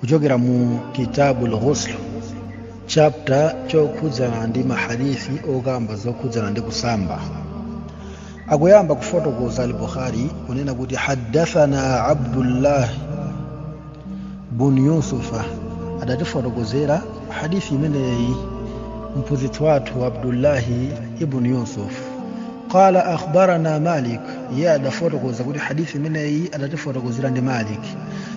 kuchokera mu kitabul ghusl chapter chokhudzana ndi mahadithi okamba zokhudzana ndi kusamba akuyamba kufotokoza al-bukhari kunena kuti haddathana abdullah bun yusufa adatifotokozera hadithi imeneyi mphunzitsi wathu abdullahi ibn yusuf qala akhbarana malik iye adafotokoza kuti hadithi imeneyi adatifotokozera ndi malik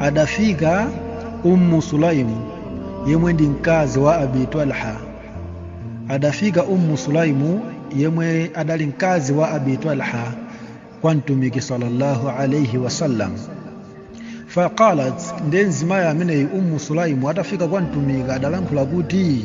adafika ummu sulaimu yemwe ndi mkazi wa abi talha adafika ummu sulaimu yemwe adali mkazi wa abi talha kwa mtumiki sallallahu alaihi wasallam faqalat nde mzimayi ameneyi ummu sulaimu atafika kwa mtumiki adalankhula kuti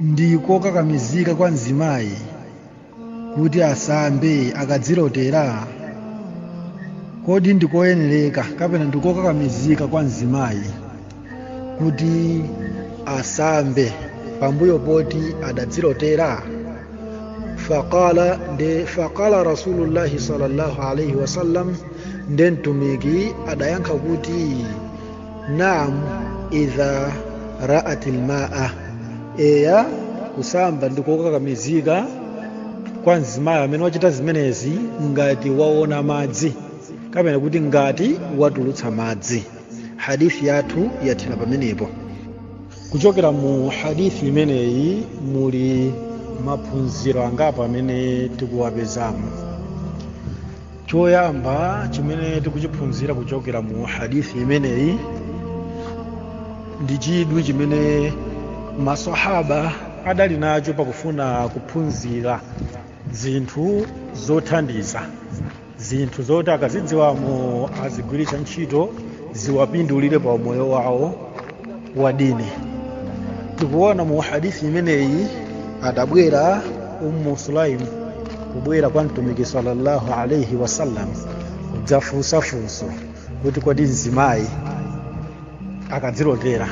Ndi kokakamizika kwa mzimayi kuti asambe akadzilotera? Kodi ndi koyenereka kapena ndi kokakamizika kwa mzimayi kuti asambe pambuyo poti adadzilotera? Faqala Rasulullahi sallallahu alaihi wasallam nde mtumiki adayankha kuti naam idha ra'at alma'a eya kusamba ndikokakamizika kwa mzimayi amene wachita zimenezi ngati waona madzi kapena kuti ngati watulutsa madzi hadithi yathu yathera pamenepo kuchokera mu hadithi imeneyi muli maphunziro angapo amene tikuwapezamo choyamba chimene tikuchiphunzira kuchokera mu hadithi imeneyi ndi chidwi chimene masahaba adali nacho pakufuna kuphunzira zinthu zothandiza zinthu zoti akazidziwa azigwiritsa ntchito ziwapindulire pa umoyo wawo wa dini tikuona mu hadithi imeneyi adabwera ummu sulaim kubwera kwa mtumiki sallallahu alaihi wasallam kudzafunsa funso kuti kodi mzimayi akadzilotera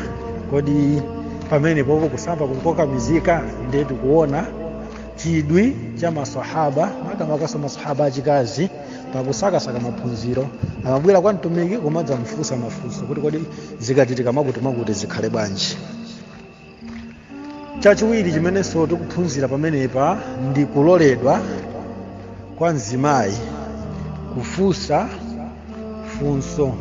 kodi pamenepopo kusamba nkokakamizika ndiye tikuona chidwi cha masahaba makamakaso masahaba achikazi pakusakasaka maphunziro amabwera kwa mtumiki kumadzamfunsa mafunso kuti kodi zikachitika mwakuti mwakuti zikhale bwanji chachiwiri chimenenso tikuphunzira pamenepa ndi kuloledwa kwa mzimayi kufunsa funso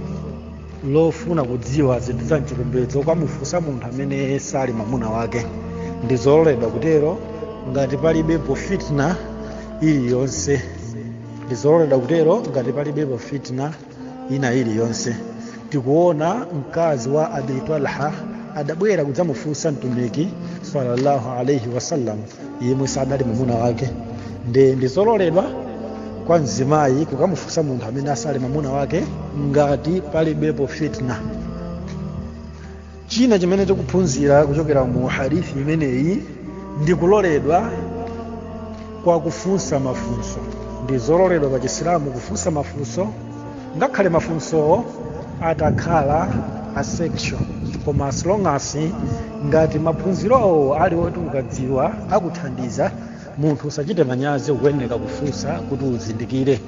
lofuna kudziwa zinthu za mchipembedzo kukamufunsa munthu amene sali mwamuna wake ndi zololedwa kutero ngati palibepo fitna iliyonse ndi zololedwa kutero ngati palibepo fitna ina iliyonse tikuona mkazi wa abi talha adabwera kudzamufunsa mtumiki sallallahu alaihi wasallam yemwe sadali mwamuna wake nde ndizololedwa kwa mzimayi kukamufunsa munthu amene asali mwamuna wake ngati palibepo fitna china chimene tikuphunzira kuchokera mu hadithi imeneyi ndi kuloledwa kwa kufunsa mafunso ndi zololedwa pa chisilamu kufunsa mafunso ngakhale mafunsowo atakhala a sex koma as long as ngati maphunzirowo ali oti ukadziwa akuthandiza munthu usachite manyazi ukuyeneka kufunsa kuti uzindikire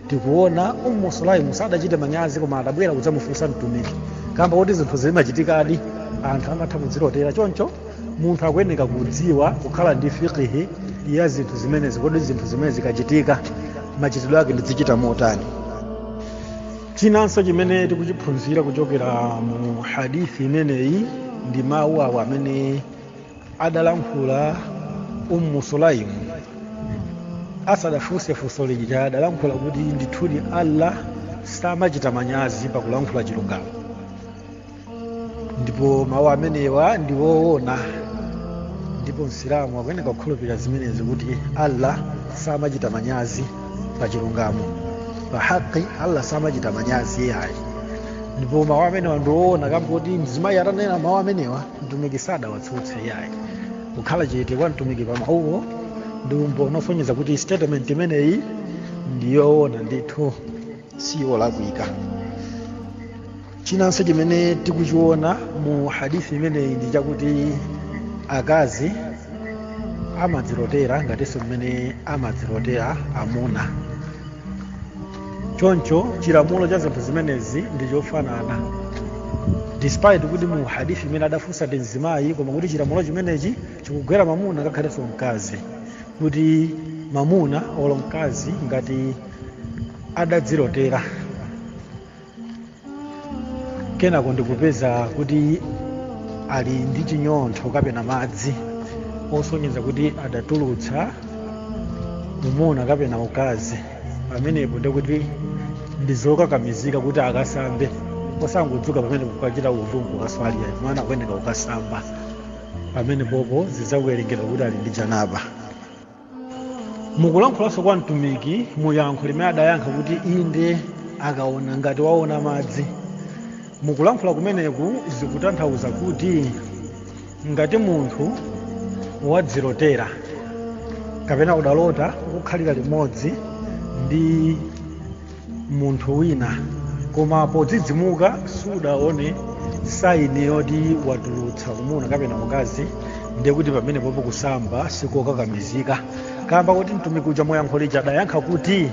tikuona ummu sulaimu sadachite manyazi koma adabwera kudzamufunsa mtumiki kamba kuti zinthu zimachitikadi anthu amatha kudzilotera choncho munthu akuyeneka kudziwa kukhala ndi fikihi ya zinthu zimenezi kodi zinthu zimene zikachitika machitidwe ake ndizichita motani chinanso chimene tikuchiphunzira kuchokera mu hadithi imeneyi ndi mawu awo amene adalankhula ummu sulaimu asadafunse funso lija adalankhula kuti ndithudi allah samachita manyazi pakulankhula chilungamo ndipo mawu amenewa ndi woona ndipo msilamu akuyeneka kukhulupirira zimenezi kuti allah samachita manyazi pa chilungamo pa haqi allah samachita manyazi iyayi ndipo mawu amenewa ndi woona kamba kuti mzimayi atanena mawu amenewa mtumiki sadawatsutse yayi kukhala chete kwa mtumiki pa mawuwo ndi umboni osonyeza kuti statement imeneyi ndi yoona ndithu si yolakwika chinanso chimene tikuchiona mu hadithi imeneyi ndi chakuti akazi amadzilotera ngatinso mmene amadzilotera amuna choncho chilamulo cha zinthu zimenezi ndi chofanana despite kuti mu hadithi imene adafunsa ndi mzimayi koma kuti chilamulo chimenechi chikugwera mamuna ngakhalenso mkazi kuti mamuna olo mkazi ngati adadzilotera kenako ndikupeza kuti ali ndi chinyontho kapena madzi osonyeza kuti adatulutsa umuna kapena ukazi pamenepo ndikuti ndizokakamizika kuti akasambe osangodzuka pamenepo kukachita udhu kukaswali ayi koma akuyeneka kukasamba pamenepopo zidzawerengedwa kuti ali ndi janaba mukulankhulanso kwa mtumiki mu yankho limene adayankha kuti inde akaona ngati waona madzi mukulankhula kumeneku zikutanthauza kuti ngati munthu wadzilotera kapena udalota ukukhalira limodzi ndi munthu wina koma podzidzimuka siudaone saini yoti watulutsa umuna kapena ukazi ndiye kuti pamenepopo kusamba sikokakamizika kamba kuti mtumiki uja muyankho lija adayankha kuti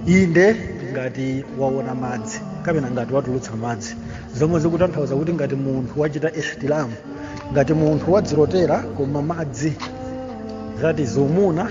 inde ngati waona madzi kapena ngati watulutsa madzi zomwe zikutanthauza kuti ngati munthu wachita ihtilamu ngati munthu wadzilotera koma madzi zati zumuna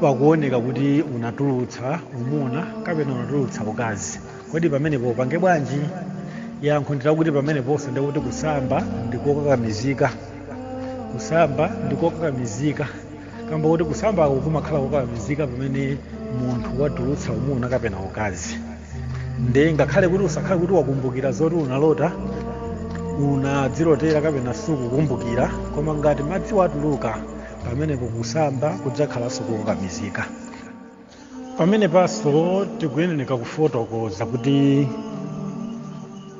pakuoneka kuti unatulutsa umuna kapena unatulutsa ukazi kodi pamenepa upange bwanji yankho ndi lakuti pameneponso nde kuti kusamba ndikokakamizika kusamba ndikokakamizika kamba kuti kusambako kumakhala kokakamizika pamene munthu watulutsa umuna kapena ukazi nde ngakhale kuti usakhale kuti wakumbukira zoti unalota unadzilotera kapena sukukumbukira koma ngati madziwo atuluka pamenepo kusamba kudzakhalanso kokakamizika pamenepanso tikuyenereka kufotokoza kuti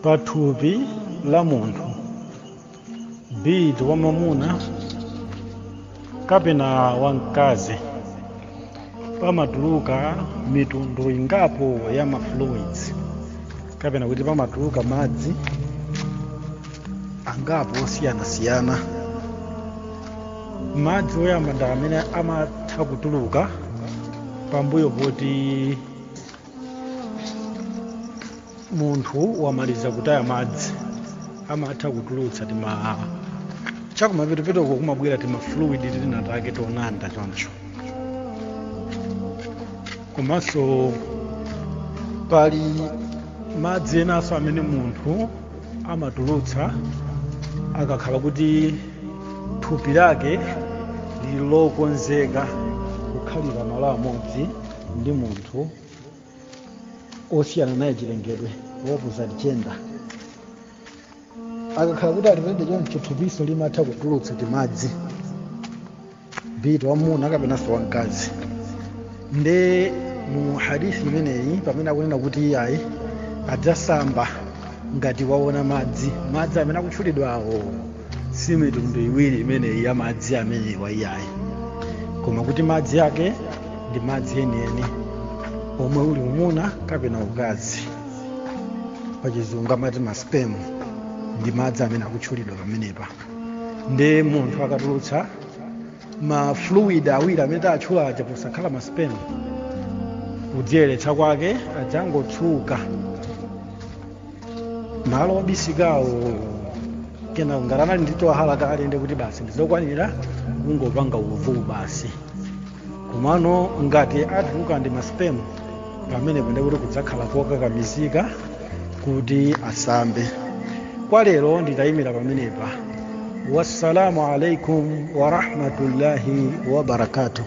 pathupi la munthu be it wa mwamuna kapena wa mkazi pamatuluka mitundu ingapo ya mafluids kapena kuti pamatuluka madzi angapo osiyanasiyana madzi oyamba ndi amene amatha kutuluka pambuyo poti munthu wamaliza kutaya madzi amatha kutulutsa timauja chakumapetopetoko kumabwera tima fluid tina take tonanda choncho komanso pali madzi enanso amene munthu amatulutsa akakhala kuti thupi lake lili lokonzeka kukhalira malo amodzi ndi munthu osiyana naye chilengedwe opposite gender akakhala kuti alipende choncho thupiso limatha kutulutsa timadzi be it wamwamuna kapenanso wamkazi nde mu hadith imeneyi pamene akunena kuti iyayi adzasamba ngati waona madzi madzi amene akutchulidwawo si mitundu iwiri imeneyi ya madzi amenewa iyayi koma kuti madzi ake ndi madzi enieni omwe uli umuna kapena ukazi pachizungu amati maspemu ndi madzi amene akutchulidwa pamenepa nde munthu akatulutsa ma fluid awiri amene tatchula aja posakhala maspemu kudziyeretsa kwake adzangotsuka malo obisikawo kenaka ngati anali ndi twahara kale ndiye kuti basi ndizokwanira kungopanga wudhu basi komano ngati atuluka ndi masipemu pamenepo ndiye kuti kudzakhala kokakamizika kuti asambe kwa lero nditayimira pamenepa wassalamu alaikum warahmatullahi wabarakatuh